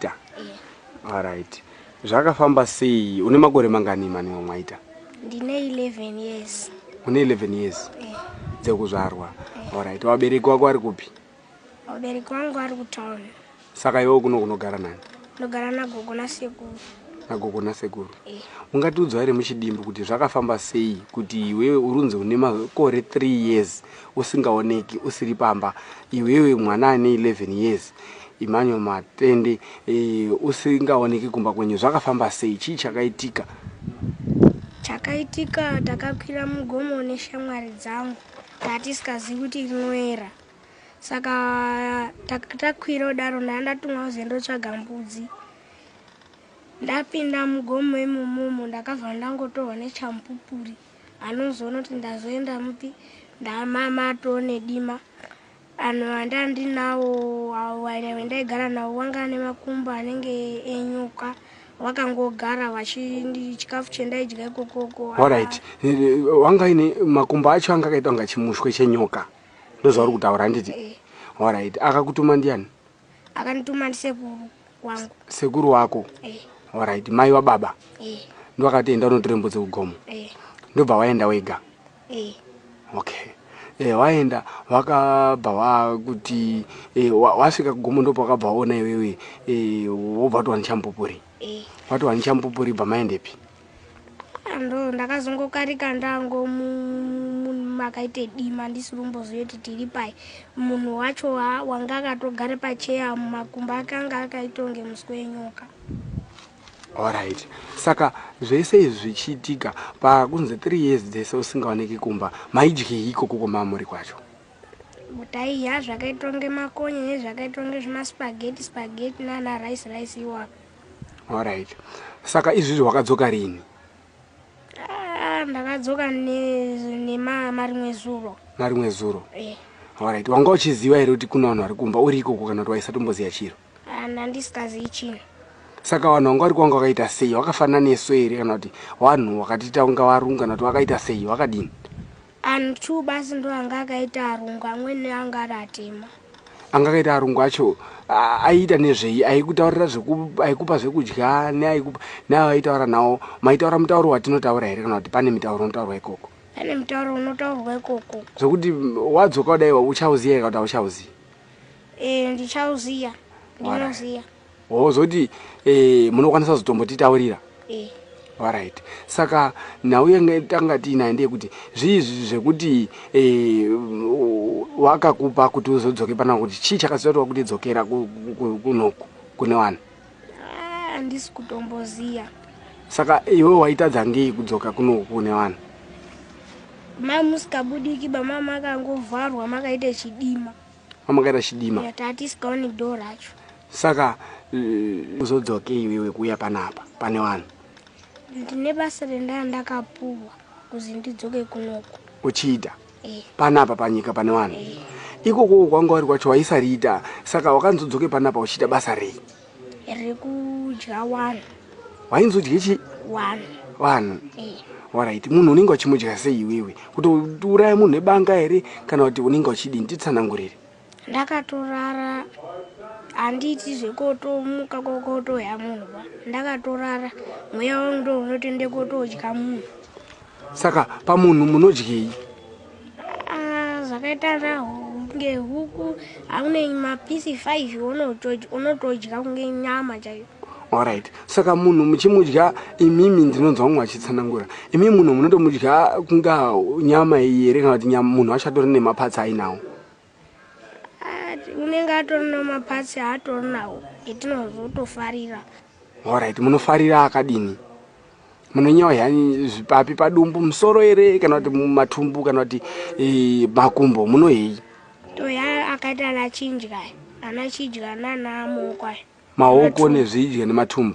Mwaita. Yeah. All right. Zvakafamba sei? Une makore mangani mani wamwaita? Ndine 11 years. Une 11 years? Yeah. Dzekuzvarwa. Yeah. All right. Wabereki wako ari kupi? Wabereki wangu ari kutown. Saka iwe kuno kunogara nani? Ndogara na gogo na sekuru. Na gogo na sekuru. Yeah. Ungatiudzwa here muchidimbu kuti zvakafamba sei kuti iwewe urunzi une makore 3 years usingaoneki usiri pamba iwewe mwana ane 11 years Emmanuel Matende, eh, usingaoneki kumba kwenyu zvakafamba sei? Chii chakaitika? Chakaitika takakwira mugomo neshamwari dzangu tatisingazivi kuti rinoera saka takwira kudaro ndanga ndatumwa kuzi ndotsvaga mbudzi ndapinda mugomo imomomo ndakabva ndangotorwa nechamupupuri anozoona kuti ndazoenda mupi ndamama atoo nedima Vanhu vandandinawo waive ndaigara nawo wanga ane makumbo anenge enyuka wakangogara wachindi chikafu chendaidya ikokoko. Alright. Eh, eh, wanga ine makumbo acho anga akaita kunga chimushwe chenyoka. Ndozvauri kutaura handiti? Eh. Alright. Akakutuma ndiani? akanituma ndisekuru wangu sekuru wako eh. orit mai wababa eh. ndovakati enda unotora mbudzi kugomo eh. ndobva waenda wega eh. okay eh, waenda wakabva wakuti eh, wasvika kugomo ndopa wakabva waona iwewe eh, wobva wati wanichamupupuri eh. wati wanichamupupuri bva maendepi ndo ndakazongokarika ndango makaite dima ndisiri kumbozoti tiri pai munhu wacho wanga akatogare pacheya mumakumba akanga akaitonge muswe wenyoka orit saka zvese izvi zvichiitika pakunzi three years dzese usingaoneki kumba maidyei ikoko kwamamuri kwacho taiya zvakaitonge makonye nezvakaitonge zvemaspageti spageti nana rice rice iwapo Alright. Saka izvizvi wakadzoka rini? Ah, ndakadzoka nemarimwe zuro. Marimwe zuro? Eh. Alright. Wanga uchiziva here kuti kuna vanhu vari kumba uri ikoko kana kuti waisatomboziva chiro? Ah, ndandisingazivi chino. Saka vanhu vanga vari kwanga wakaita sei? Wakafanana nesu here kana kuti vanhu wakatita unga varungu kana kuti wakaita sei? Wakadini? Anhu two basi ndo anga akaita arungu amwene anga ari atema. Anga akaita arungu acho aiita nezvei aikutaurira aikupa zvekudya neaikupa nayo aitaura nawo maitaura mutauro watinotaura here kana kuti pane mitauro unotaurwa ikoko pane mutauro unotaurwa ikoko zvekuti wadzoka kudai uchauziva here kana kuti auchauzivi e, ndichauziva ndinoziva wozoti eh, munokwanisa kuzotombotitaurira eh. orit saka nhau yenge tanga tiinayo ndeyekuti zviizvi zvekuti eh, wakakupa kuti uzodzoke pana kuti chii chakazoita kuti wakuti dzokera kunoku kune vanhu handisi ah, kutomboziva saka iwe waitadza ngei kudzoka kunoku kune vanhu mai musikabudiki bamama akangovharwa makaita chidima amakaita chidima tatisingaoni do racho saka eh, uzodzokei wewe kuuya panapa pane vanhu ndine basa rendaya ndakapuwa kuzi ndidzoke kunoku uchiita eh. panapa panyika pane vanhu eh. ikoko kwanga wari kwacho waisariita saka wakanzodzoke panapa uchiita basa rei rekudya one wainzodye chi one one eh. orit munhu unenge uchimudya sei iwewe kuti uraya munhu nebanga here kana kuti unenge uchidii nditsanangurire ndakatorara handiiti zvekotomuka kokotoya munhu ba ndakatorara mweya wangu ndo unotende kotodya munhu saka pamunhu munodyei Ah, zvakaita kunge huku haune mapisi 5 unotodya kunge nyama chaiyo orit saka munhu muchimudya imimi ndinonzwa mumwe achitsanangura imi munhu munotomudya kunga nyama iyi here kana kuti munhu wacho atori nemapatsi ainawo Ah, unenge atori nemapatsi aatori nawo etinozotofarira orit munofarira akadini munonyewa yani zvipapi padumbu musoro ere kana kuti mumatumbu kana kuti eh, makumbo munohei toya akaita ana chinjya ana chidya nana amoko aya maoko nezvidya nematumbu